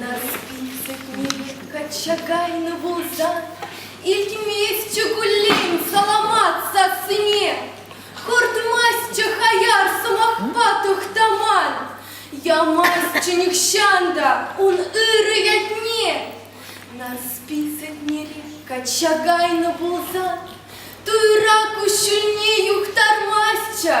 Нарсписӗкне пек качча кайнӑ пулсан, илтместчӗ куллен саламат сассине. Хуртмастчӗ хаяр сӑмахпа Тухтаман, ямастчӗ нихҫан та ун ырӑ ятне. Нарсписӗкнери качча кайнӑ пулсан, туйра куҫҫульне юхтармастчӗ.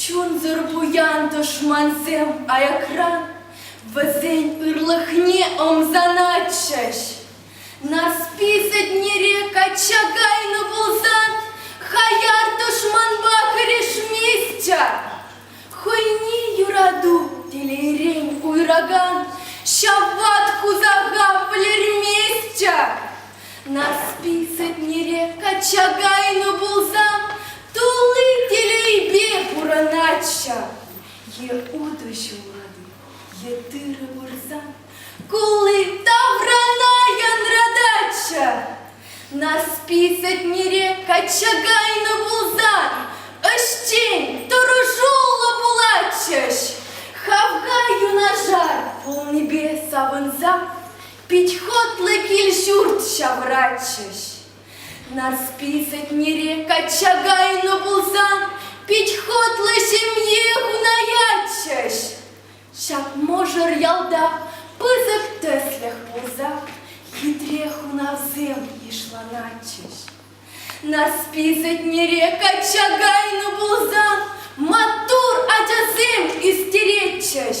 Чунсӑр пуян тӑшмансем аякран вӗсен ырлӑхне ӑмсанатчӗҫ. Нарспи сӗтнере качча кайнӑ пулсан, хаяр тӑшманпа хӗрешместчӗ. Хӑйне юрату телейрен уйракан ҫав ват хусаха вӗлерместчӗ. Нарспи сӗтнере качча кайнӑ пулсан тулли телейпе пурӑнатчӗ. Е утӑ ҫулатӑп, е тырӑ пырсан кулли таврана янрататчӗ. Нарспи сӗтнере качча кайнӑ пулсан ӗҫчен, тӑрӑшуллӑ пулатчӗҫ. Хавха юнашар пулнипе савӑнса Пит хӑтлӑ кил-ҫурт ҫавӑратчӗҫ. Нарспи Сетнере качча кайнӑ пулсан пит хӑтлӑ ҫемье хунаятчӗҫ. Ҫак мӑшӑр ялта пысӑк тӗслӗх пулса хитре хунавсем йышланатчӗҫ. Нарспи Сетнере качча кайнӑ пулсан маттур ачасем ӳстеретчӗҫ.